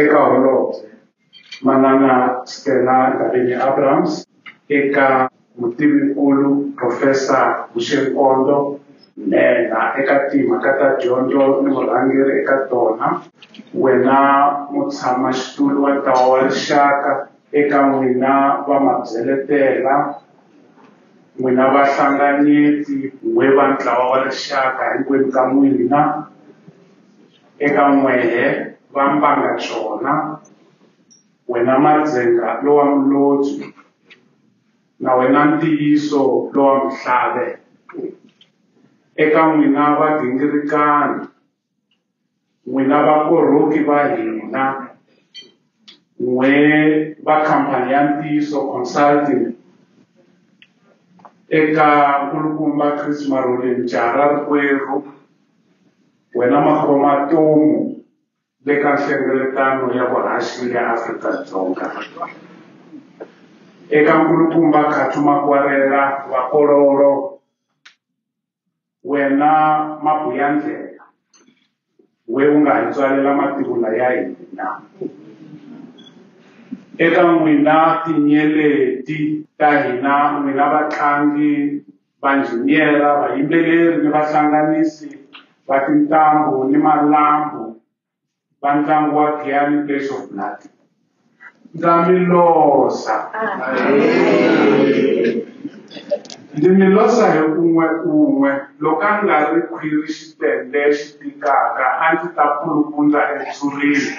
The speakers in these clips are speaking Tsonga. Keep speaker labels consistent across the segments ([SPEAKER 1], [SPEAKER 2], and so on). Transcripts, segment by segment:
[SPEAKER 1] eka Holobye Manana Stella Ndabeni-Abrahams, eka Mutivi-nkulu Profesa Bushe Nkondo, Nhenha eka Timhaka ta Dyondzo ni Vurhangeri eka tona, wena Mutshama-xitulu wa Ntlawa wa Rixaka, eka n'wina vamabyeletela, n'wina vahlanganyeti, n'we va Ntlawa wa Rixaka, hinkwenu ka n'wina. Eka n'wehe va mbanga xona, wena Madzenga lowa Mulodzwi, na wena Ntiyiso lowa Muhlave, eka n'wina vagingirikani, n'wina vakorhoki va hina, n'we va khampani ya Ntiyiso Consulting, eka nkulukumba Chris Marhole Mjara rikwerhu, Wena makhoma tomu le ka nhlengeletano ya vuhaxi ya Afrika-Dzonga. Eka nkulukumba Khathu Makwarela wa Kololo, wena Mabuyandlela, we u nga hi tswalela mativula ya hina. Eka n'wina tinyeleti ta hina, n'wina vatlangi, vanjhiniyera, vayimbeleri ni vahlanganisi va tintambu ni malambhu va ntlangu wa Giyani Place of Blood. Ndza mi losa. Ndzi mi losa hi un'we un'we loko a nga ri khwiri xitende xi tikaka a ndzi ta pulupundza etsurini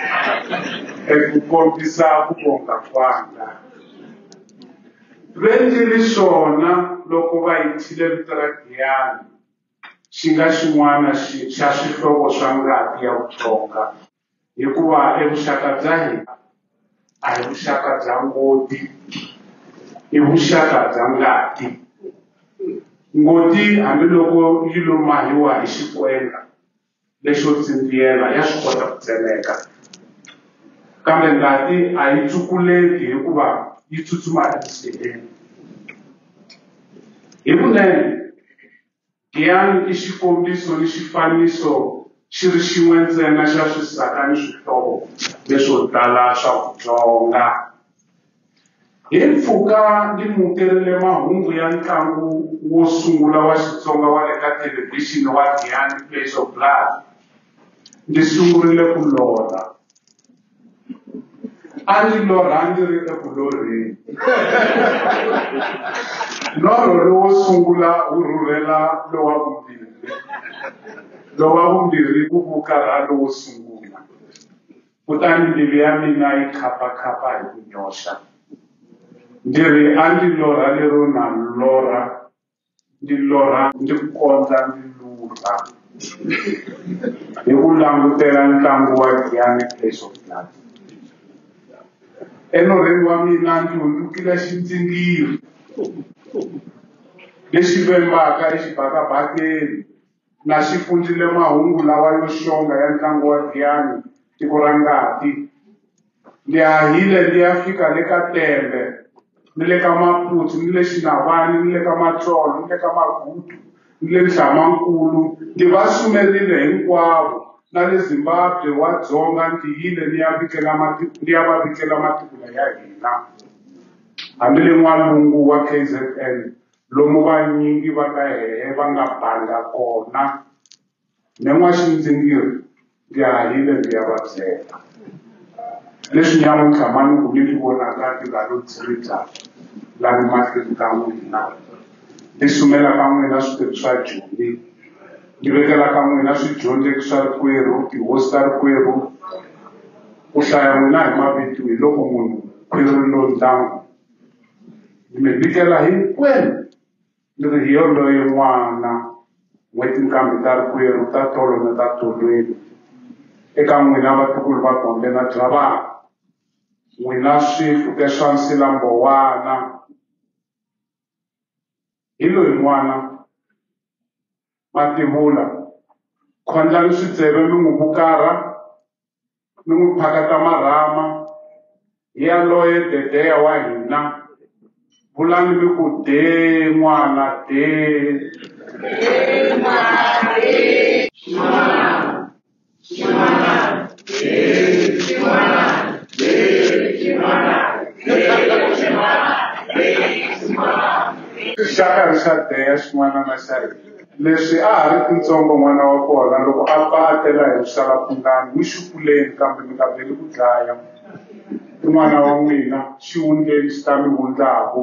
[SPEAKER 1] eku kombisa ku vonga kwanga. Renti ri swona loko va yi thyile vito ra Giyani, xi nga xin'wana xa swihlovo swa ngati ya vuhlonga, hikuva e vuxaka bya hina a hi vuxaka bya ngoti, i vuxaka bya ngati. Ngoti hambiloko yi lo mahiwa hi xikwemba, lexo tsindziyela ya swi kota ku tsemeka kambe ngati a yi tsukuleki hikuva yi tsutsuma exiheleni hi vunene giyani i xikombiso ni xifaniso xi ri xin'we ntsena xa swisaka ni swihlovo leswo tala swa vutsonga Hi mpfhuka ni mukerile mahungu ya ntlangu wo sungula wa Xitsonga wa le ka thelevhixini wa Giyani Flesh of Blood, ndzi sungurile ku lorha. A ndzi lorha ndzi ri eku lorheni. Norho lowo sungula wu rhurhela lowa vumbirhi, lowa vumbirhi wu vukarha lowo sungula. kutani mbilu ya mina yi khapa-khapa hi ku nyoxa. Ndzi ri, A ndzi lorha lero na lorha, ndzi lorha ndzi kondza ndzi luta hi ku langutela ntlangu wa Giyani Place of Blood. Enorhweni wa mina ndzi hundzukile xindzingiri lexi vembaka exibakabakeni. na xi pfundrile mahungu lawa yo xonga ya ntlangu wa Giyani tiko ra ngati. Ni hahile ni ya fika le ka Tembe, ni le ka Maputsu, ni le Xinavani, ni le ka Matsolo, ni le ka Magudu, ni le Nhlamankulu, ni va sumerile hinkwavo, na le Zimbabwe wa Dzonga ndzi yile ni ya vikela matiko, ni ya va vikela matiko ya hina, hambi le n'walungu wa KZN. Lomu vanyingi va ka hehe va nga banga kona, me n'waxindzingiri ndzi hahile ndzi ya va byela. Leswi nyamuntlha ma ni ku mi ni vonaka ndzi nga lo dziribya la ni mahlweni ka n'wina, ndzi sumela ka n'wina switori swa Joni, ndzi vekela ka n'wina swidyondzeki swa rikwerhu, tihosi ta rikwerhu, ku hlaya n'wina hi mavito hi loko munhu khwiri ri lo ndlangu. Ni mi vikela hinkwenu ni ri hi yoloye n'wana n'we tinkambi ta rikwerhu ta tolo na ta tolweni eka n'wina vatukulu va gombe na byavana n'wina swifuke swa nsilambowana hi loyi n'wana Mativula, Khondlani switsele mi n'wi vukarha, mi n'wi phakata marhama, hi yaloye Dedeya wa hina, vulani mi ku, Dee n'wana, dee! xa karhi xa deya xin'wana na xa leswi a ha ri kutsongo n'wana wa kona loko a pfa a tela hi vuxalapungani wu xukuleni kambe mi nga veli ku dlaya n'wana wa n'wina xivundleni xi ta mi wundlaku